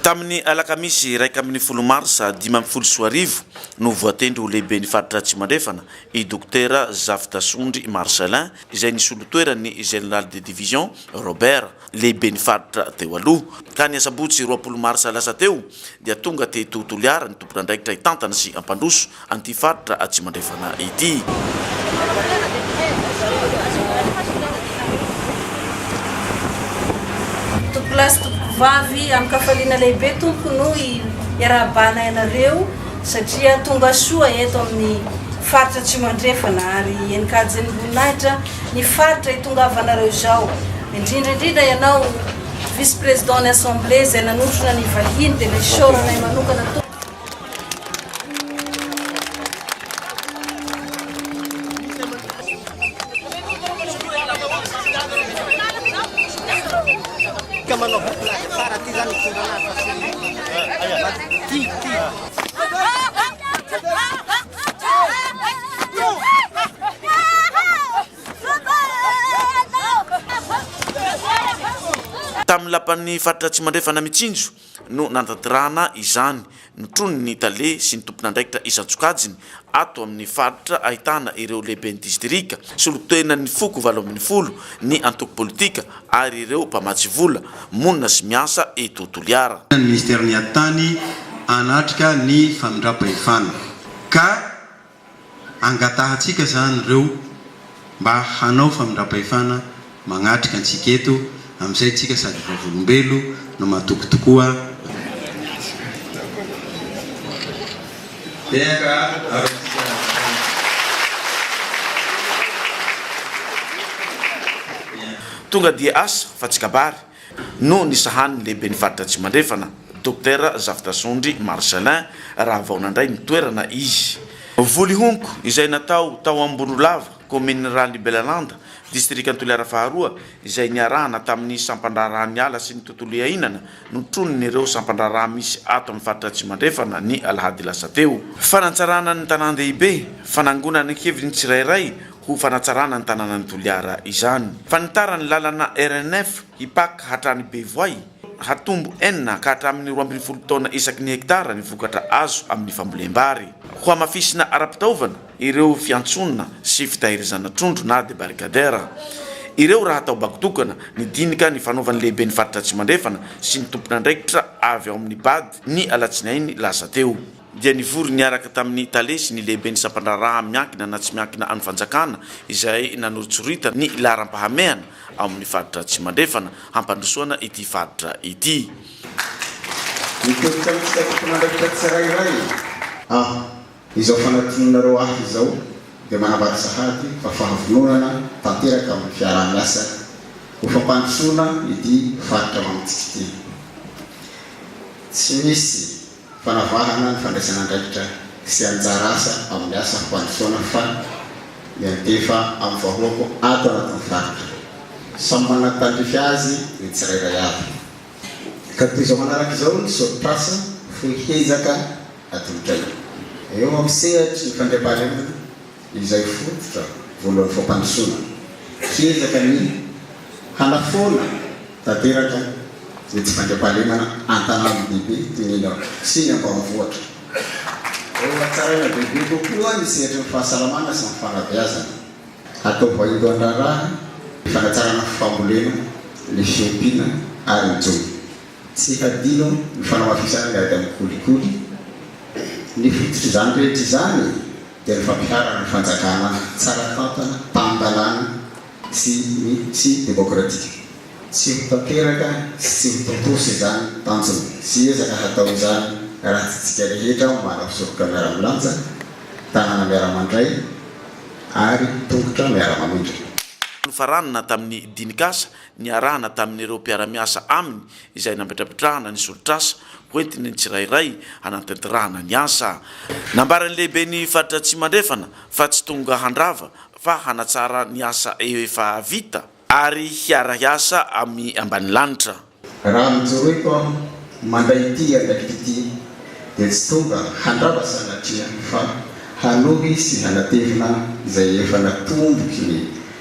Tamin'ny alakamisy iraika ambin'ny folo marsa dimy ambin'ny folo sy roa arivo no voatendry ho lehiben'ny faritra Atsimo Andrefana i Dokotera Zafidasondry Marcellin izay nisolo toeran'ny Général de Division Robert lehiben'ny faritra teo aloha, ka ny asabotsy roapolo marsa lasa teo dia tonga teto Toliara ny tompon'andraikitra hitantana sy hampandroso an'ity faritra Atsimo Andrefana ity. Tompolahy sy tompovavy amin-kafaliana lehibe tompoko no iarahabahanay anareo satria tonga soa eto amin'ny faritra Atsimo Andrefana ary enin-kajin'ny voninahitra ny faritra hitongavanareo izao, indrindra indrindra ianao vice président ny assemblée izay nanotrona ny vahiny dia nesoranay manokana to. Tamin'ny lapan'ny faritra Atsimo Andrefana Mitsinjo no nanatanterahana izany. Notronin'ny tale sy ny tompon'andraikitra isan-tsokajiny Ato amin'ny faritra ahitana ireo lehiben'ny distrika, solontenan'ny foko valo ambin'ny folo, ny antoko politika ary ireo mpamatsy vola, monina sy miasa eto Toliara. Ny Minisitera miady tany hanatrika ny famindram-pahefana ka angatahantsika izany ireo. mba hanao famindrampahefana magnatrika antsika eto amin'izay tsika sady vavolombelo no matoky tokoa Tehaka avy amintsika Razafindrahita. Tonga dia asa fa tsy kabary. no nisahan'ny lehiben'ny faritra Atsimandrefana, Dokotera Zafitrasondry Marcellin, raha vao nandray ny toerana izy. Volihonko, izay natao tao Ambonoloava, kaominin'i Ralibelaland, distrikan'i Toliara faharoa, izay niarahana tamin'ny sampan-draharahan'ny ala sy ny tontolo iainana, notronin'ireo sampan-draharaha misy ato amin'ny faritra Atsimandrefana ny alahady lasa teo. Fanatsarana ny tanàn-dehibe, fanangonana ny heviny ny tsirairay, ho fanatsarana ny tanànan'i Toliara izany. Fanitarany lalana RN-F Ipak hatrany Bevoay, hatombo enina ka hatramin'ny roa ambin'ny folo taona isaky ny hektara ny vokatra azo amin'ny fambolem-bary. Hohamafisina ara-pitaovana ireo fiantsonana sy fitahirizana trondro na debarcadère ireo raha atao bako tokana ny dinika nifanaovan'ny lehiben'ny faritra Atsimo Andrefana sy ny tompon'andraikitra avy ao amin'ny bad ny alatsinainy lasa teo. dia nivory niaraka tamin'ny tale sy ny lehiben'ny sampan-draharaha miankina na tsy miankina an'ny fanjakana izay nanoritsoritana ny laharam-pahamehana ao amin'ny faritra Atsimo Andrefana hampandrosoana ity faritra ity. Ah, izao fanadinoanareo ahy izao dia manambara sahady fa fahavononana tanteraka amin'ny fiaraha-miasa ho fampandrosoana ity faritra mamontsika ity. Tsy misy fanavahana ny fandraisan'andraikitra sy anjara asa amin'ny asa fampandrosoana fa miantefa amin'ny vahoako ato anatin'ny faritra. Samy manana ny tandrify azy ny tsirairay avy. Ka toy izao manaraka izao ny soritr'asa fohy hezaka atolotraiko. Eo amin'ny sehatry ny fandriampahalemana. izay fototra voalohan'ny fampandrosoana. Hiezaka ny hanafoana tanteraka ny tsy fandriampahalemana an-tanàna lehibe toy ny eny an-toerana sy ny ambanivohitra. Hohatsaraina bebe kokoa ny sehatry ny fahasalamana sy ny fanabeazana. Hatao vaindohan-draharaha ny fanatsarana ny fambolena, ny fiompiana ary ny jono. Tsy hadino ny fanamafisana ny ady amin'ny kolikoly. Ny fototr'izany rehetra izany, dia ny fampiharana fanjakana tsara tantana, tan-dalàna sy ny sy demokratika. Tsy ho tanteraka sy tsy ho tontosa izany tanjona sy ezaka hatao izany raha tsy tsika rehetra manao soroka miara-milanja, tanana miara-mandray ary tongotra miara-mamindra. Nifarana tamin'ny dinikasa niarahana tamin'ireo mpiara-miasa aminy izay nametrapetrahana ny solotr'asa hoentin'ny tsirairay hanatanterahana ny asa. Nambaran'ny lehiben'ny faritra Atsimandrefana fa tsy tonga handrava fa hanatsara ny asa efa vita ary hiara-hiasa amin'ny ambanilanitra. Raha nojoroiko aho mandray ity andraikitra ity dia tsy tonga handrava sanatria fa hanohy sy hanatevina izay efa natomboky ny